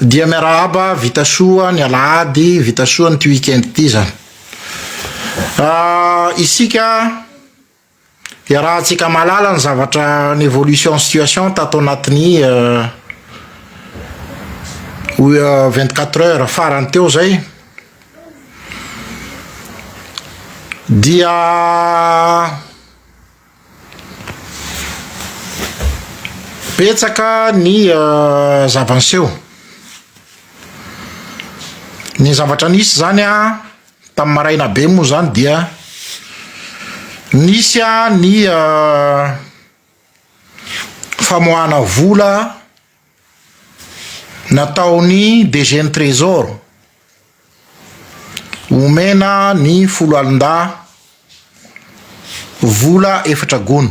Dia miarahaba, vita soa ny alahady, vita soa an'ity week-end ity izany. Isika iarahantsika mahalala ny zavatra ny évolution situation tato anatin'ny vingt quatre heures farany teo izay, dia. Betsaka ny zava-niseho. Ny zavatra nisy zany a tamin'ny maraina be moa zany dia nisy ny famoahana vola. Nataon'ny DG ny Trésor omena ny foloalindahy vola efatra gony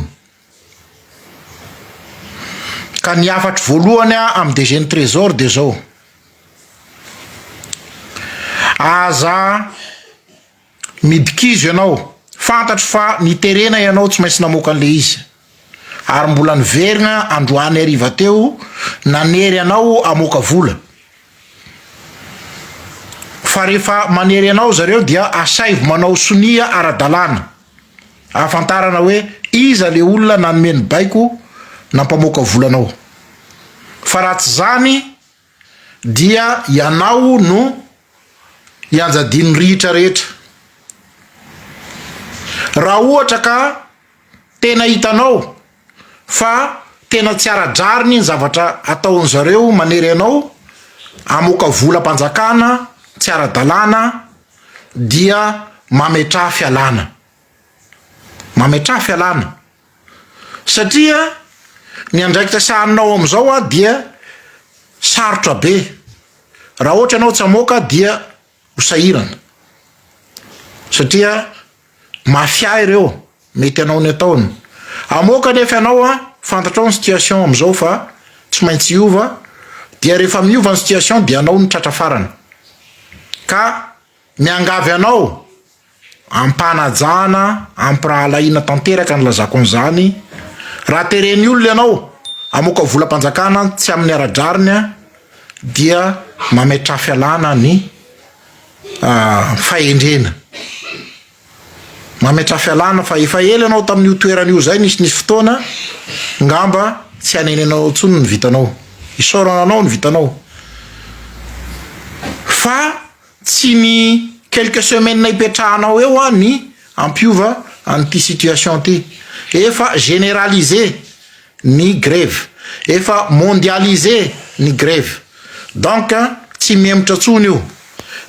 ka ny hafatro voalohany amin'ny DG ny Trésor dia izao, aza. Midikizo ianao, fantatro fa niterena ianao tsy maintsy namoaka an'ilay izy. Ary mbola niverina androany hariva teo nanery anao hamoaka vola. Fa rehefa manery anao zareo dia asaivo manao sonia ara-dalàna ahafantarana hoe iza ilay olona nanome ny baiko nampamoaka vola anao. Fa raha tsy izany Dia ianao no ianjadian'ny rihitra rehetra. Raha ohatra ka tena hitanao fa tena tsy ara-drariny ny zavatra ataon'ny zareo manery anao hamoaka volam-panjakana tsy ara-dalàna dia mametraha fialàna. Mametraha fialàna. Satria ny andraikitra sahaninao amin'izao dia sarotra be, raha ohatra ianao tsy hamoaka dia ho sahirana satria mafia ireo mety hanao ny ataony, hamoaka anefa ianao fantatrao ny situation amin'izao fa tsy maintsy hiova dia rehefa miova ny situation dia ianao no tratra farany ka miangavy anao Ampanajana, ampirahalahiana tanteraka ny lazako an'izany. Raha teren'ny olona ianao hamoaka volam-panjakana tsy amin'ny ara-drariny dia mametraha fialana ny fahendrena. Mametraha fialana fa efa ela ianao tamin'io toerana io izay, nisy nisy fotoana ngamba tsy hanenenanao intsony ny vitanao, isaorana anao ny vitanao fa. Tsy ny quelques semaines hipetrahanao eo an ny hampiova an ity situation ity. Efa generalise ny greve. Efa mondialise ny greve. Donc tsy mihemotra tsony io.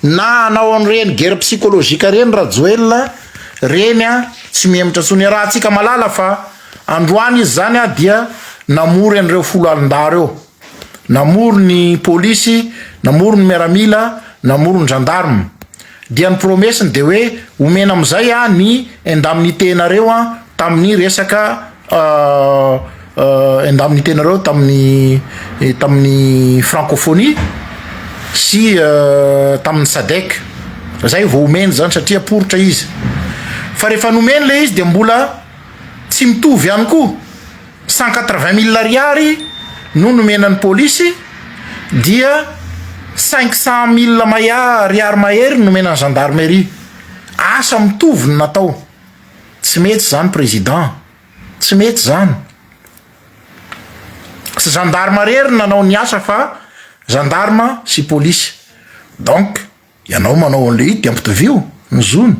Na hanao an ireny guerre psychologique ireny Rajoelina reny an tsy mihemotra tsony. Iarahantsika malala fa androany izy zany an dia namory an ireo foloalindà reo. namory ny polisy, namory ny miaramila, namory ny gendarme. Dia ny promesse-ny dia hoe omena amin'izay aho ny indemnité-nareo an tamin'ny resaka indemnité-nareo tamin'ny tamin'ny francophonie sy tamin'ny sadec. Izay vao omeny izany satria poritra izy. Fa rehefa nomeny ilay izy dia mbola tsy mitovy ihany koa. Cent quatre vingt mille ariary no nomena ny polisy dia cinq cent mille maia ariary mahery no nomena ny gendarmerie. Asa mitovy no natao. Tsy mety izany président. Tsy mety izany. Tsy gendarme irery no nanao ny asa fa gendarme sy polisy. Donc. Ianao manao an'ilay izy dia ampitovio ny zony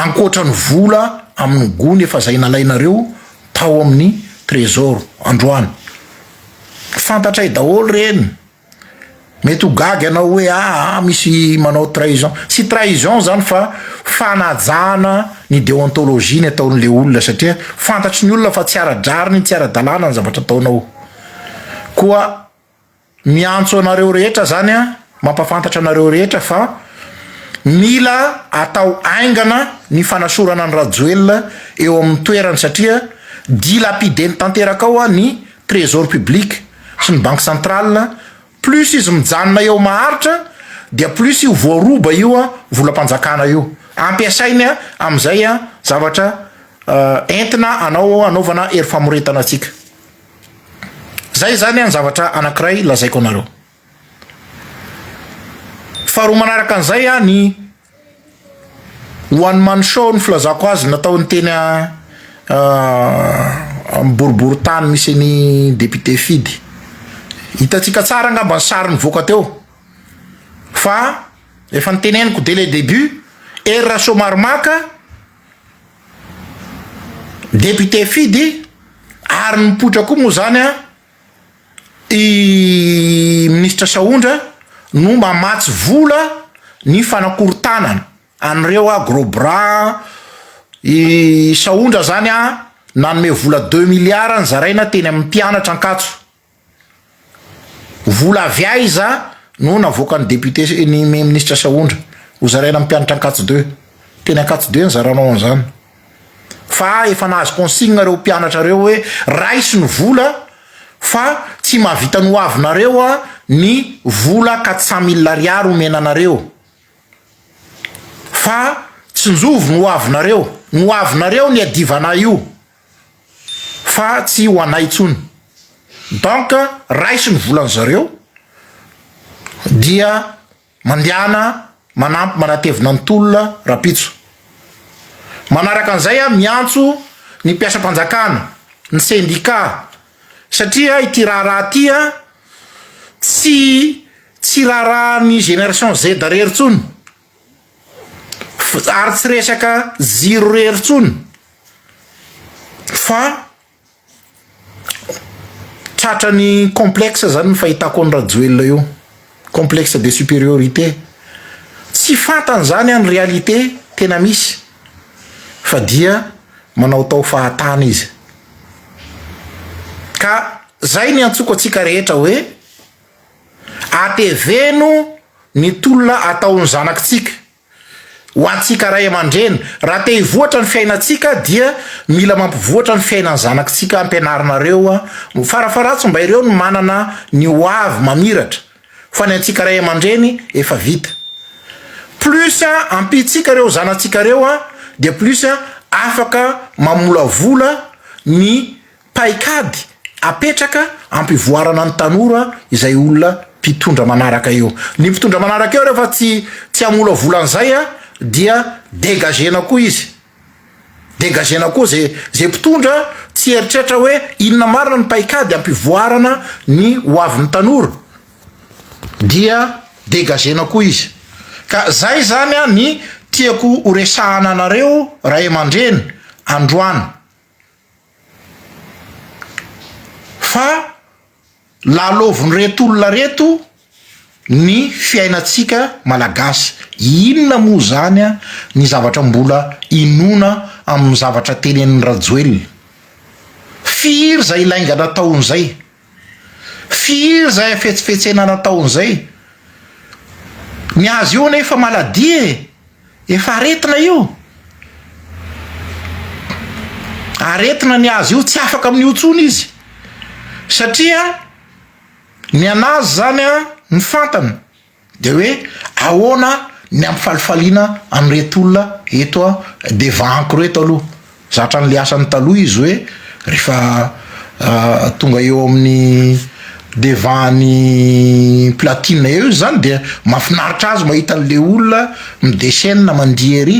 ankoatra ny vola amin'ny gony efa izay nalainareo tao amin'ny trésor androany. Fantatray daholo ireny. Mety ho gaga ianao hoe aa misy manao trahison. Tsy trahison izany fa fanajana ny deontologie ny ataon'ilay olona satria fantatry ny olona fa tsy ara-drariny, tsy ara-dalàna ny zavatra ataonao. Koa. Miantso anareo rehetra zany an, mampafantatra anareo rehetra fa mila atao aingana ny fanasorana an'i Rajoelina eo amin'ny toerany satria dilapideny tanteraka ao ny trésor public sy ny banque centrale, plus izy mijanona eo maharitra dia plus io voaroba io volam-panjakana io ampiasainy amin'izay zavatra entina anao anaovana hery famoretana antsika. Zay izany an zavatra anankiray lazaiko anareo. Faharoa manaraka an'izay an ny one man show ny filazako azy nataon'ny teny boribory tany misy an'i député Fidy. Hitantsika tsara angamba ny sary nivoaka teo fa efa niteneniko dès le début, Hery Rasoamaromaka, Député Fidy ary mipoitra koa moa zany an i Ministra Sahondra no mamatsy vola ny fanakorontanana an'ireo an gros bras i Sahondra zany an nanome vola deux milliards nizaraina teny amin'ny mpianatra Ankatso. Vola avy aiza no navoakan'ny député sy ny minisitra Sahondra hozaraina amin'ny mpianatra Ankatso deux? Teny Ankatso deux nizaranao an'izany fa efa nahazo consigne ireo mpianatra ireo hoe raiso ny vola fa tsy mahavita nohavinareo ny vola quatre cent mille ariary omena anareo fa tsinjovy no hoavinareo, no hoavinareo ny iadivanay io. fa tsy ho anay intsony donc raiso ny volan zareo dia mandehana manampy manatevina ny tolona rapitso manaraka an'izay aho miantso ny mpiasam-panjakana ny sendika satria ity raharaha ty a tsy tsy raharaha ny génération Z rery intsony ary tsy resaka ziro irery intsony fa tratrany complexe zany ny fahitako an'i Rajoelina io, complexe de supériorité, tsy fantany zany an ny réalité tena misy fa dia manaotao fahatany izy ka zay ny antsoiko antsika rehetra hoe. Ateveno ny tolona ataon'ny zanakitsika ho antsika ray aman-dreny. Raha te hivoatra ny fiainantsika dia mila mampivoatra ny fiainan'ny zanakitsika ampianarinareo. Farafaharatsiny mba ireo no manana ny ho avy mamiratra fa ny antsika ray aman-dreny efa vita. Plus ampiantsika ireo zanatsika ireo dia plus afaka mamolavola ny Paikady apetraka ampivoarana ny tanora izay olona mpitondra manaraka eo. Ny mpitondra manaraka eo rehefa tsy tsy hamolavola an'izay dia degagena koa izy. Degagena koa ze ze mpitondra tsy eritreritra hoe inona marina ny paikady ampivoarana ny ho avin'ny tanora dia degagena koa izy. Ka zay izany ny tiako horesahana anareo ray aman-dreny androany. Fa lalaovin'ireto olona ireto ny fiainantsika malagasy. Inona moa izany ny zavatra mbola inoana amin'ny zavatra tenenin'i Rajoelina? Firy izay lainga nataon'izay? Firy izay hafetsifetsena nataony izay? Ny azy io anie efa maladie e! Efa aretina io! Aretina ny azy io, tsy afaka amin'io intsony izy satria ny an'azy izany an, ny fantany. Dia hoe ahoana ny ampifalifaliana an'ireto olona eto devant-ko ireto aloha. Zatra an'ilay asany taloha izy hoe rehefa tonga eo amin'ny devant-n'ny platine eo izy izany dia mahafinaritra azy mahita an'ilay olona mi-descene mandihy ery.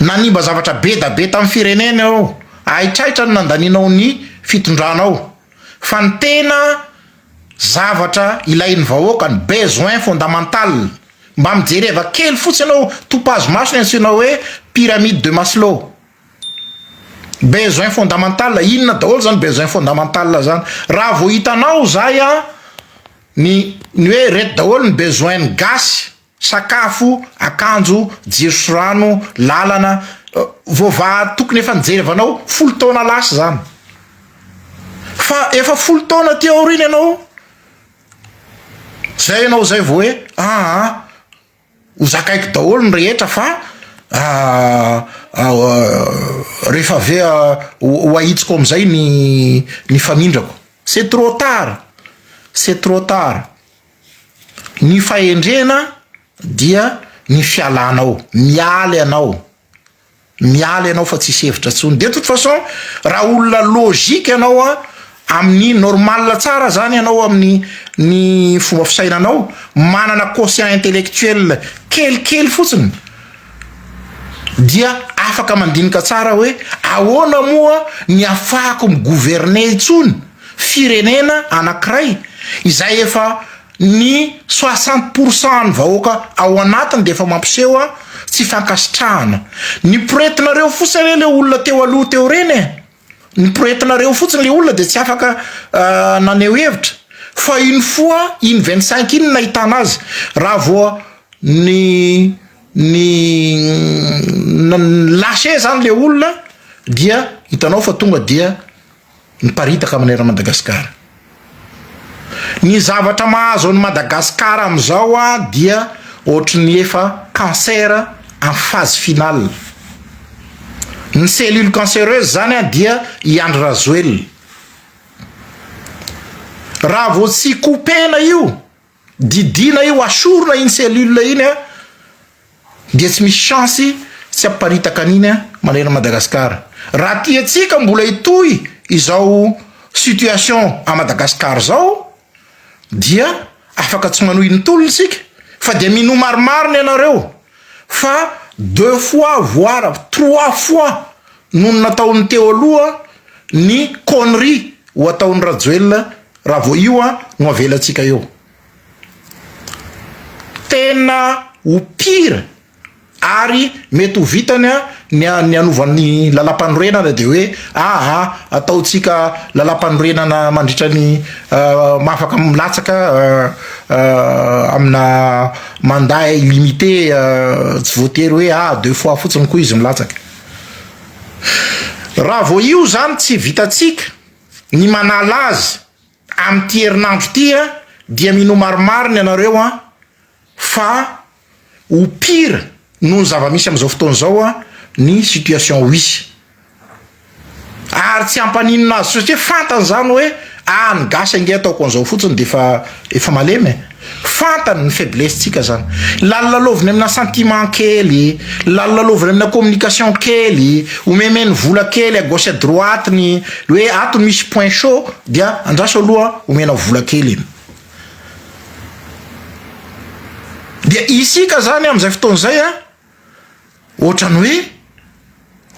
Nanimba zavatra be da be tamin'ny firenena ianao, haitraitra ny nandanianao ny fitondranao, fa ny tena zavatra ilain'ny vahoaka, ny besoin fondamental, mba mijereva kely fotsy ianao, topazo maso ny antsoina hoe pyramide de Maslow, besoin fondamental, inona daholo zany besoin fondamental zany? raha vao hitanao zay an, ny ny hoe reto daholo ny besoin ny gasy. Sakafo, akanjo, jiro sy rano, lalana, voavaha tokony efa nijery avy anao folo taona lasa izany. Fa efa folo taona aty aoriana ianao, izay ianao izay vao hoe aa ho zakaiko daholo ny rehetra fa rehefa avy eo ho ahitsiko amin'izay ny ny famindrako. C'est trop tard, c'est trop tard. Ny fahendrena dia ny fialana ao, miala ianao, miala ianao fa tsisy hevitra intsony, de toute façon raha olona logique ianao a amin'ny normal tsara zany ianao amin'ny ny fomba fisainanao, manana quotient intellectuel kelikely fotsiny dia afaka mandinika tsara hoe ahoana moa ny afahako mi-gouverner intsony. firenena anankiray izay efa ny soixante pour cent an'ny vahoaka ao anatiny dia efa mampiseho tsy fankasitrahana ny poretinareo fotsiny anie le olona teo aloha teo reny e, ny poretinareo fotsiny le olona dia tsy afaka naneho hevitra fa iny foa iny vingt cinq iny nahitana azy raha vao ny ny lâcher zany le olona dia hitanao fa tonga dia. miparitaka amin'ny eran'i Madagasikara. Ny zavatra mahazo an'i Madagasikara amin'izao dia ohatry ny efa cancer en phase finale. Ny cellule cancéreuse izany dia i Andry Rajoelina. Raha vao tsy couper-na io. Didiana io asorina iny cellule iny a dia tsy misy chance tsy haparitaka an'iny a manerana Madagascar raha tiantsika mbola hitohy izao situation à Madagascar zao dia afaka tsy manohy ny tolona isika fa dia minoa maromaro ny anareo Fa deux fois voire trois fois nony nataon'ny teo aloha ny connerie ho ataon'i Rajoelina raha vao io an no avelantsika eo. Tena ho pire ary mety ho vitany an ny ny hanovany lalampanorenana dia hoe aa ataontsika lalampanorenana mandritra ny mahafaka milatsaka amina Mandat illimité tsy voatery hoe a deux fois fotsiny koa izy milatsaka. Raha vao io izany tsy vitantsika ny manala azy amin'ity herinandro ity dia minoa marimarina ianareo an fa ho pire noho ny zava-misy amin'izao fotoana izao ny situation ho hisy. Ary tsy hampaninona azy satria fantany izany hoe ah ny gasy ange ataoko an'izao fotsiny dia efa efa malemy e! Fantany ny faiblesse-ntsika izany. Lalolaloviny amina sentiment kely, lalolaloviny amina communication kely, omemeny vola kely à gauche à droite ny hoe ato no misy point chaud dia andraso aloha omenao vola kely iny. Dia isika izany amin'izay fotoana izay an! Ohatrany hoe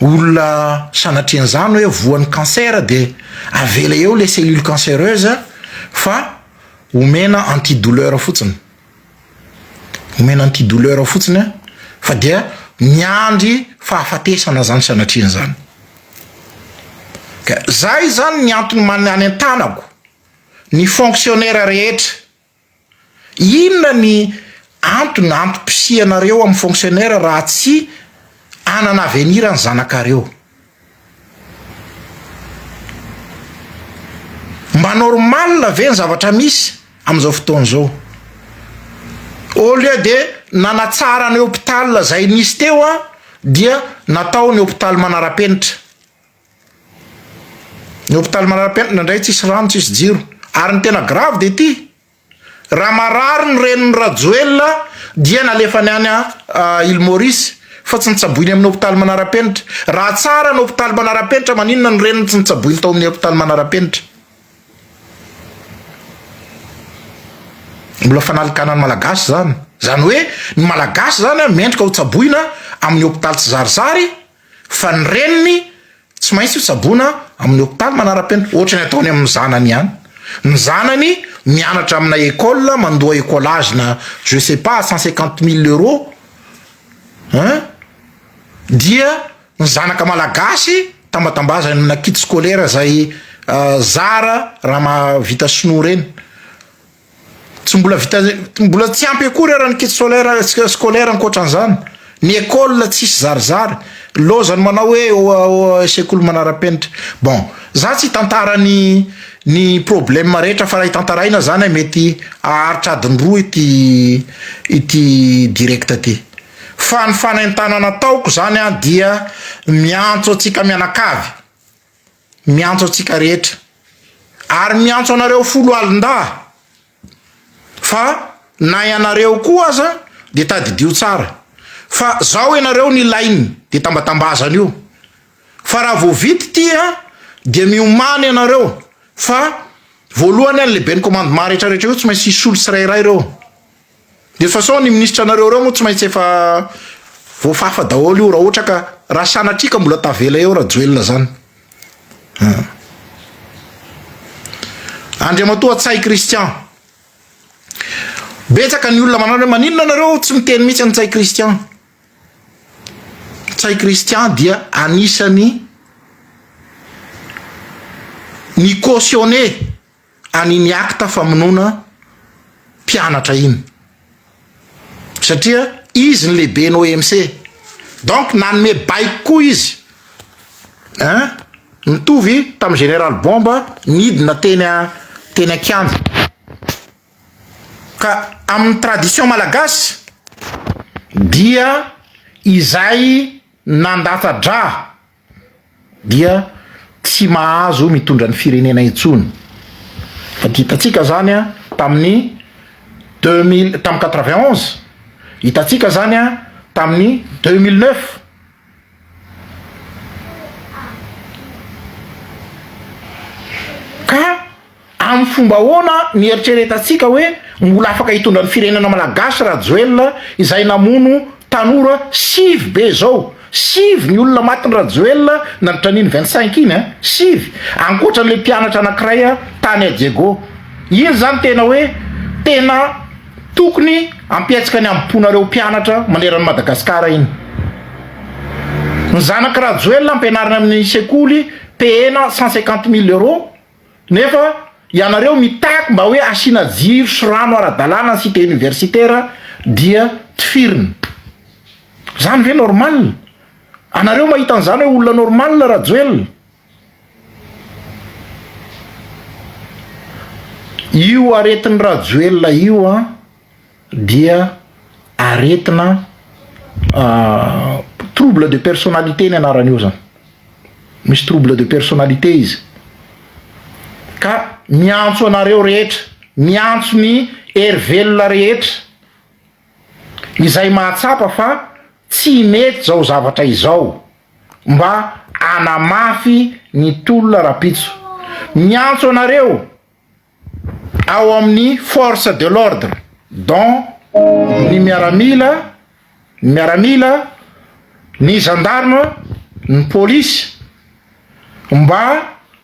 olona sanatria an'izany hoe voan'ny cancer dia avela eo ilay cellule cancereuse fa omena anti douleur fotsiny. Omena anti douleur fotsiny fa dia miandry fahafatesana izany sanatria an'izany. Ka izay izany ny antony mba nanentanako ny fonctionnaire rehetra. Inona ny antony antom-pisianareo amin'ny fonctionnaire raha tsy hanana avenir ny zanakareo? Mba normal ve ny zavatra misy amin'izao fotoana izao? Au lieu de nanatsara ny hôpital izay nisy teo dia natao ny hôpital manara-penitra. Ny hôpitaly manara-penitra indraindray tsisy rano, tsisy jiro. Ary ny tena grave dia ity, raha marary ny renin'i Rajoelina dia nalefany any Île Maurice fa tsy notsaboiny amin'ny hôpitaly manara-penitra. Raha tsara ny hôpitaly manara-penitra maninona ny reniny tsy notsaboiny tao amin'ny hôpitaly manara-penitra. Mbola fanalikanan'ny Malagasy izany. Izany hoe ny Malagasy izany mendrika ho tsaboina amin'ny hôpitaly tsizarizary Fa ny reniny tsy maintsy hotsaboina amin'ny hopitaly manara-penitra, ohatra ny ataony amin'ny zanany ihany. Ny zanany mianatra amina école, mandoa écolage na je sais pas à cent cinquante mille euros an! dia ny zanaka malagasy tambatambazany amina kit scolaire izay zara raha mahavita sinoa ireny. Tsy mbola vita mbola tsy ampy akory ara ny kit solaire scolaire ankoatran'izany ny école tsisy zarizary lozany manao hoe euh, sekoly manarapenitra bon za tsy tantara ny ny problème rehetra fa raha hitantaraina zany mety aharitra adiny roa ity ity direct ty fa ny fanentanana taoko zany a dia miantso antsika mianakavy Miantso antsika rehetra ary miantso anareo foloalindahy fa na ianareo koa aza dia tadidio tsara fa zao ianareo nilainy dia tambatambazana io fa raha vao vita ity a dia miomana ianareo fa voalohany a ny lehiben'ny commandement rehetra rehetra eo tsy maintsy hisolo tsirairay ireo. Efa sao ny ministra anareo ireo moa tsy maintsy efa voafafa daholo io raha ohatra ka raha sanatria ka mbola tavela eo Rajoelina zany. Ah. Andriamatoa Tsay Christian. Betsaka ny olona manana hoe maninona nareo tsy miteny mihitsy an'i Tsay Christian. Tsay Christian dia anisany ny cautionné an'iny acte famonoana mpianatra iny satria izy ny lehiben'ny OMC donc nanome baiko koa izy hein mitovy tamin'ny général bomba nidina teny a teny an-kianja ka amin'ny tradition malagasy dia izay nandata-dra dia tsy mahazo mitondra ny firenena intsony fa hitantsika zany a tamin'ny deux mille tamin'ny quatre vingt onze hitantsika zany a tamin'ny deux mille neuf ka Amin'ny fomba ahoana no hieritreretantsika hoe mbola afaka hitondra ny firenena malagasy Rajoelina izay namono tanora sivy be izao? Sivy ny olona matin'i Rajoelina nandritra an'iny vingt cinq iny an! Sivy! Ankoatran'ilay mpianatra anankiray tany à Diego. Iny izany tena hoe tena tokony hampihetsika ny hambom-ponareo mpianatra maneran'i Madagasikara iny. Ny zanak'i Rajoelina ampianarina amin'ny sekoly payena cent cinquante mille euros. Nefa ianareo mitaky mba hoe asiana jiro sy rano ara-dalàna ny cité universitaire dia tifirina. Zany ve normal? Anareo mahita an'izany hoe olona normal Rajoelina? Io aretin'i Rajoelina io an! dia aretina trouble de personnalité ny anarany io zany, misy trouble de personnalité izy ka miantso anareo rehetra, miantso ny hery velona rehetra izay mahatsapa fa tsy mety zao zavatra izao mba hanamafy ny tolona rapitso, miantso anareo. ao amin'ny force de l'ordre dont ny miaramila, ny miaramila, ny gendarme, ny polisy mba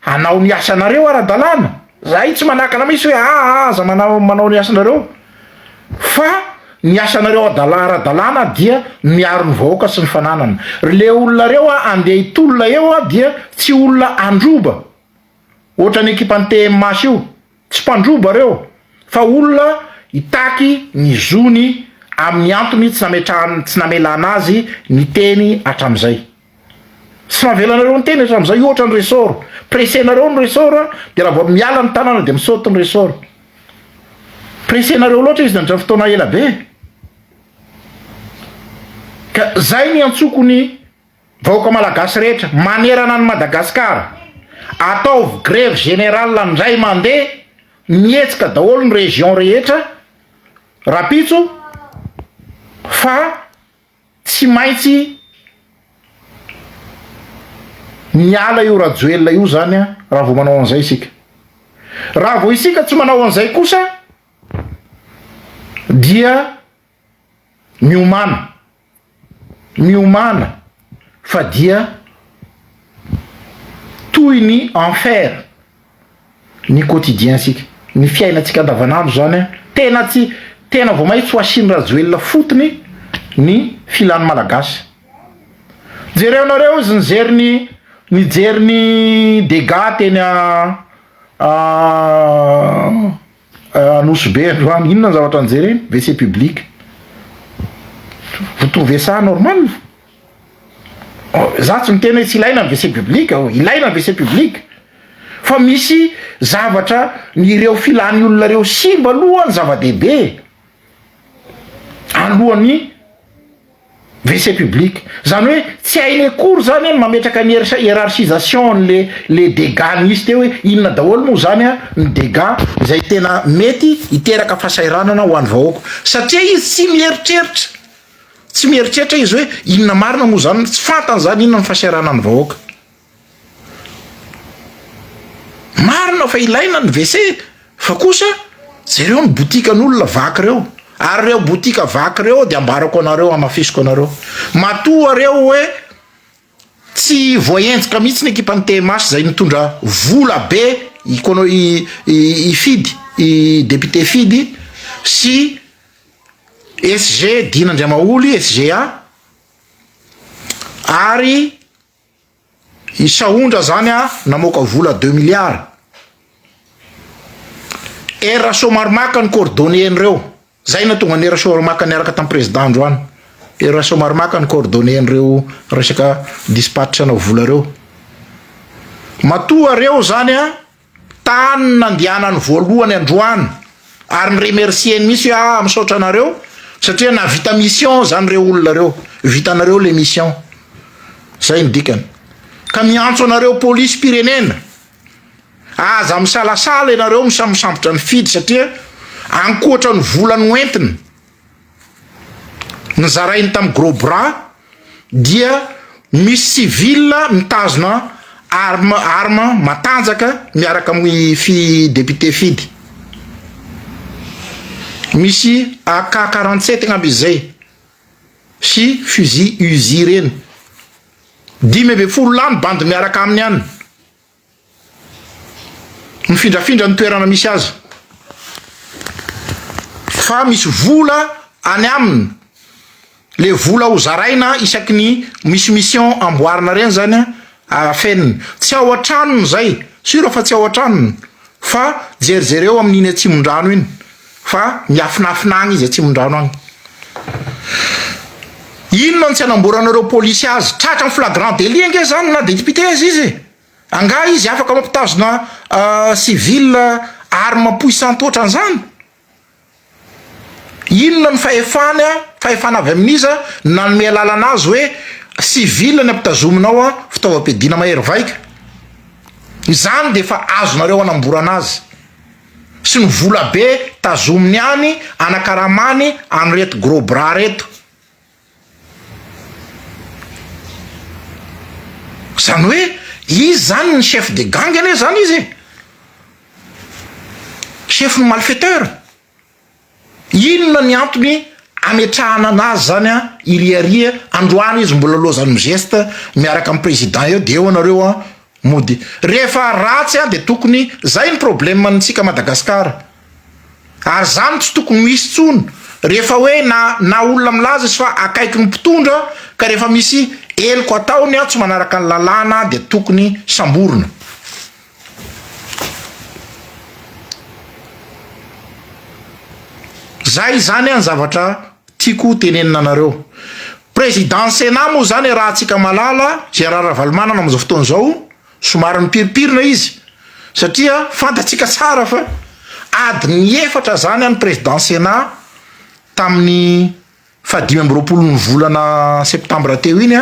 hanao ny asanareo ara-dalàna, zahay tsy manakana mihitsy hoe aa aza manao manao ny asanareo fa ny asanareo adala- ara-dalàna dia miaro ny vahoaka sy ny fananana, ry le olona reo a andeha hitolona eo a dia tsy olona handroba. Ohatran'ny ekipan'ny TMH io, tsy mpandroba ireo fa olona hitaky ny zony amin'ny antony tsy nametrahany tsy namelana azy niteny hatramin'izay. Tsy navela anareo niteny hatramin'izay ohatra ny ressort, pressenareo ny ressort dia raha vao miala ny tanana dia misaute ny ressort. Pressenareo loatra izy nandritra ny fotoana ela be e! Ka izay no iantsoako ny Vahoaka Malagasy rehetra manerana an'i Madagasikara, ataovy grevy générale indray mandeha, mihetsika daholo ny région rehetra rapitso fa tsy maintsy miala io Rajoelina io zany raha vao manao an'izay isika. Raha vao isika tsy manao an'izay kosa dia miomana. miomana fa dia toy ny enfer ny quotidien sika ny fiainantsika andavanandro zany an tena tsy tena vao maitsy ho asiny rajoelina fotony ny filan'ny malagasy jereo nareo izy nijery ny nijery ny dega teny a Anosibe androany inona ny zavatra nijereny? WC public. Vous trouvez ça normal? Za tsy miteny hoe tsy ilaina ny WC public aho, ilaina ny WC public fa misy zavatra ny ireo filany olona ireo simba aloha ny zava-dehibe alohan'ny Wc public. Zany hoe tsy hainy akory zany an ny mametraka ny hiérarchisation an le le dégâts nisy teo hoe inona daholo moa zany an ny dégâts izay tena mety hiteraka fahasahiranana ho any vahoaka. Satria izy tsy mieritreritra, tsy mieritreritra izy hoe inona marina moa zany, tsy fantany zany inona ny fahasahiranany vahoaka. Marina fa ilaina ny WC fa kosa jereo ny botikan'olona vaky reo ary reo botika vaky reo de ambarako anareo hamafisiko anareo matoa reo hoe tsy voahenjika mihitsy ny ekipan'ny TMH zay mitondra vola be ikono i Fidy i député Fidy sy SG Dina Andriamaholy SGA ary I Sahondra zany a namoaka vola deux milliards. Hery Rasoamaromaka ny coordonné an'ireo. Zay nahatonga an'i Hery Rasoamaromaka niaraka tamin'ny président androany. Hery Rasoamaromaka ny coordonné an'ireo resaka dispatch-na vola ireo. Matoa reo zany a. Tany nandianany voalohany androany ary ny remercier ny mihitsy hoe ah misaotra anareo satria nahavita mission zany reo olona reo vitanareo le mission zay ny dikany ka miantso anareo police pirenena aza misalasala ianareo misamosambotra ny fidy satria ankoatra ny vola noentina nizarainy tam gros bras dia misy civil mitazona arme arme matanjaka miaraka amin'ny fi député fidy misy AK quarante sept angamba izy zay sy fusil uzi reny dimy ambin'ny folo lahy mibandy miaraka aminy any Mifindrafindra ny toerana misy azy fa misy vola any aminy le vola ho zaraina isaky ny misy mission amboarina reny zany a afeniny tsy ao an-tranony zay sur fa tsy ao an-tranony fa jerijereo amin'iny atsimondrano iny Fa miafinafina any izy atsimondrano any. Inona no tsy anamboranareo polisy azy? Tratra am flagrant délit ange zany na depite aza izy e! Angaha izy afaka mampitazona civil arme puissante otran'zany? Inona ny fahefany an? Fahefana avy amin'iza no nanome alalana azy hoe civil ny ampitazominao an fitaovam-piadiana mahery vaika? Izany dia efa azonareo anamborana azy. sy ny vola be tazominy any anakaramany an'ireto gros bras reto. Zany hoe izy zany ny chef de gang anie zany izy e! Chef ny malfaiteur. Inona ny antony ametrahana anazy zany an iry Ary an, androany izy mbola lozan'ny mizesta miaraka amin'ny président eo dia eo anareo an mody rehefa ratsy an dia tokony zay ny problème antsika Madagascar Ary zany tsy tokony ho hisy tsony rehefa hoe na na olona milaza izy fa akaiky ny mpitondra ka rehefa misy heloka ataony an tsy manaraka ny lalàna dia tokony samborina. Zay izany an zavatra tiako ho tenenina anareo. Président Sénat moa zany arahantsika malala Gérard Ravalomanana amin'izao fotoana izao somary mipirimpirina izy satria fantatsika tsara fa adiny efatra zany an président Sénat tamin'ny Fa dimy amby roapolo ny volana septambra teo iny,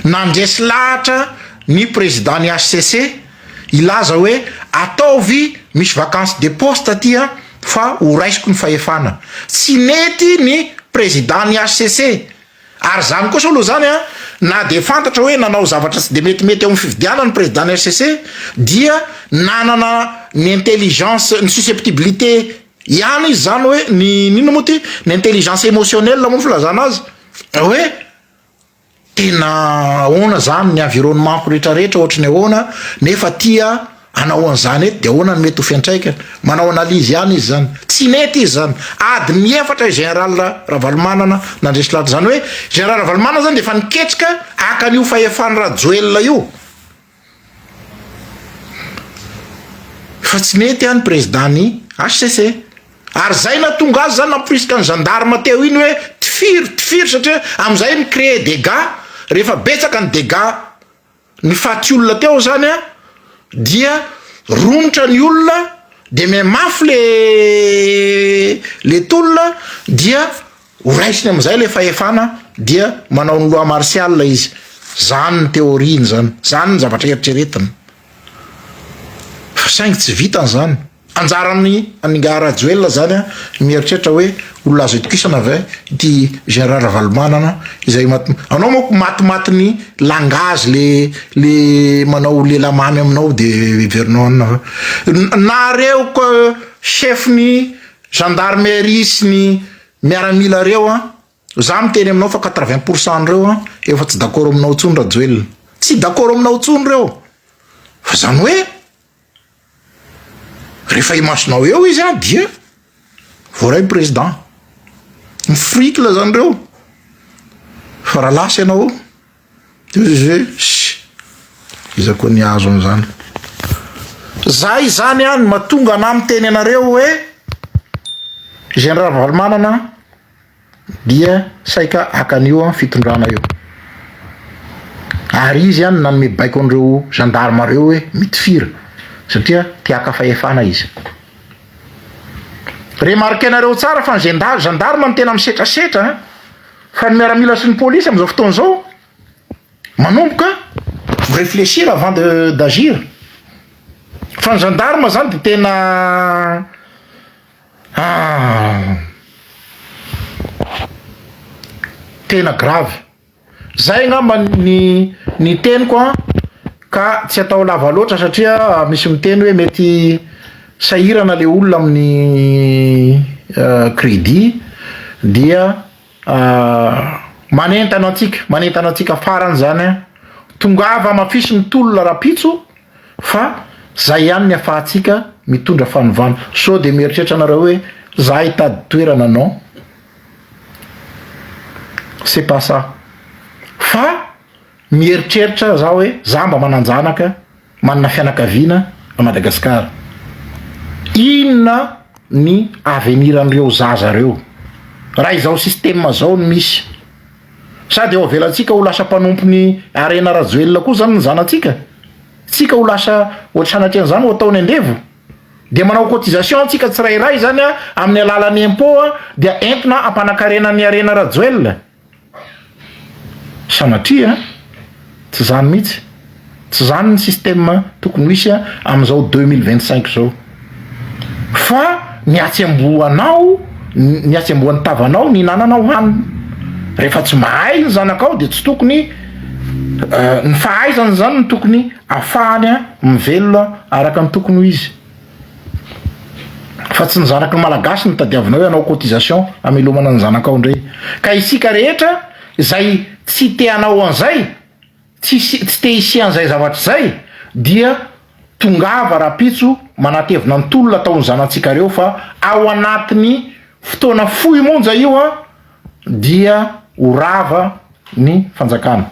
nandresy lahatra ny prezida ny hcc hilaza hoe ataovy misy vacance de poste aty fa ho raisiko ny fahefana. Tsy nety ny prezida ny hcc. Ary izany kosa aloha izany na dia fantatra hoe nanao zavatra tsy dia metimety eo amin'ny fifidianana ny prezida ny hcc dia nanana ny intelligence, ny susceptibilité, Ihany izy zany hoe ny inona moa ty ny intelligence emotionnelle moa filazana azy hoe tena ahoana zany ny environnement-ko rehetra rehetra ohatry ny ahoana nefa tia anao an'izany eto de ahoana ny mety ho fiantraikany manao analyse ihany izy zany tsy nety izy zany adiny efatra i general Ravalomanana nandresy lahatra zany hoe general Ravalomanana zany de efa niketrika haka an'io fahefany Rajoelina io Fa tsy mety an ny président ny HCC. Ary zay nahatonga azy zany namporisika ny gendarme teo iny hoe tifiry tifiry satria amizay mi créer dégâts rehefa betsaka ny dégâts ny faty olona teo zany an dia romotra ny olona de mihamafi le le tolona dia Ho raisiny amin'izay ilay fahefana dia manao ny loi martiale izy. Izany ny théorie-ny izany. Izany ny zavatra eritreretiny. Fa saingy tsy vitany izany. Anjaran'i an'ingahy Rajoelina izany ny mieritreritra hoe olona azo itokisana ve ity général Ravalomanana izay mat-. Anao manko matimaty ny langage le le manao lela mamy aminao dia heverinao anona fa. Nareo ko chef-ny. Gendarmerie sy ny miaramila reo an! Za miteny aminao fa quatre vingt pour cent reo an efa tsy dakoro aminao tsony Rajoelina. Tsy dakoro aminao tsony reo. Fa zany hoe refa imasonao eo izy an dia voaray president. Mifrikla zany reo fa ra lasa ianao. Sh! Iza koa ny azo an'izany? Zah izany an, mahatonga anah miteny anareo hoe Gen Ravalomanana dia saika haka an'io fitondrana io. Ary izy an nanome baiko an'ireo gendarmes ireo hoe mitifira satria te haka fahefana izy. Remarquer-nareo tsara fa ny gendarmes no tena misetrasetra an! Fa ny miaramila sy ny polisy amin'izao fotoana izao manomboka mi réfléchir avant de d'agir. Fa ny gendarme izany dia tena ah tena grave. Izay angamba ny ny teniko an ka tsy atao lava loatra satria misy miteny hoe mety Sahirana le olona amin'ny credit dia manentana antsika manentana antsika farany zany an, tongava mafisy ny tolona rapitso fa zay ihany ny afahantsika mitondra fanovana, sao dia mieritreritra nareo hoe za hitady toerana non c'est pas ça fa mieritreritra za hoe za mba manan-janaka, Manana fianakaviana à Madagascar. Inona ny avenir an'ireo zaza ireo raha izao système zao no misy? Sa dia ho avelantsika ho lasa mpanompon'i Harena Rajoelina koa zany ny zanatsika? Tsika ho lasa ohatra sanatrian'izany ho ataony andevo? Dia manao cotisation antsika tsirairay zany amin'ny alalan'ny impot dia entina hampanakarena an'i Harena Rajoelina? Sanatria an! Tsy izany mihitsy. Tsy izany ny système tokony ho hisy amin'izao deux mille vingt cinq izao. Fa ny hatsembohanao, ny hatsembohan'ny tavanao ny hinananao hanina. Rehefa tsy mahay ny zanakao dia tsy tokony, ny fahaizany izany no tokony afahany mivelona araka ny tokony ho izy. Fa tsy ny zanaky ny Malagasy no tadiavinao hanao cotisation hamelomana ny zanakao indray. Ka isika rehetra izay tsy te hanao an'izay, tsy hisy tsy te hisian'izay zavatra izay dia tongava rahampitso manatevina ny tolona ataon'ny zanatsikareo fa ao anatin'ny fotoana fohy monja io an dia ho rava ny fanjakana.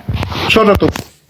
Misaotra tompoko.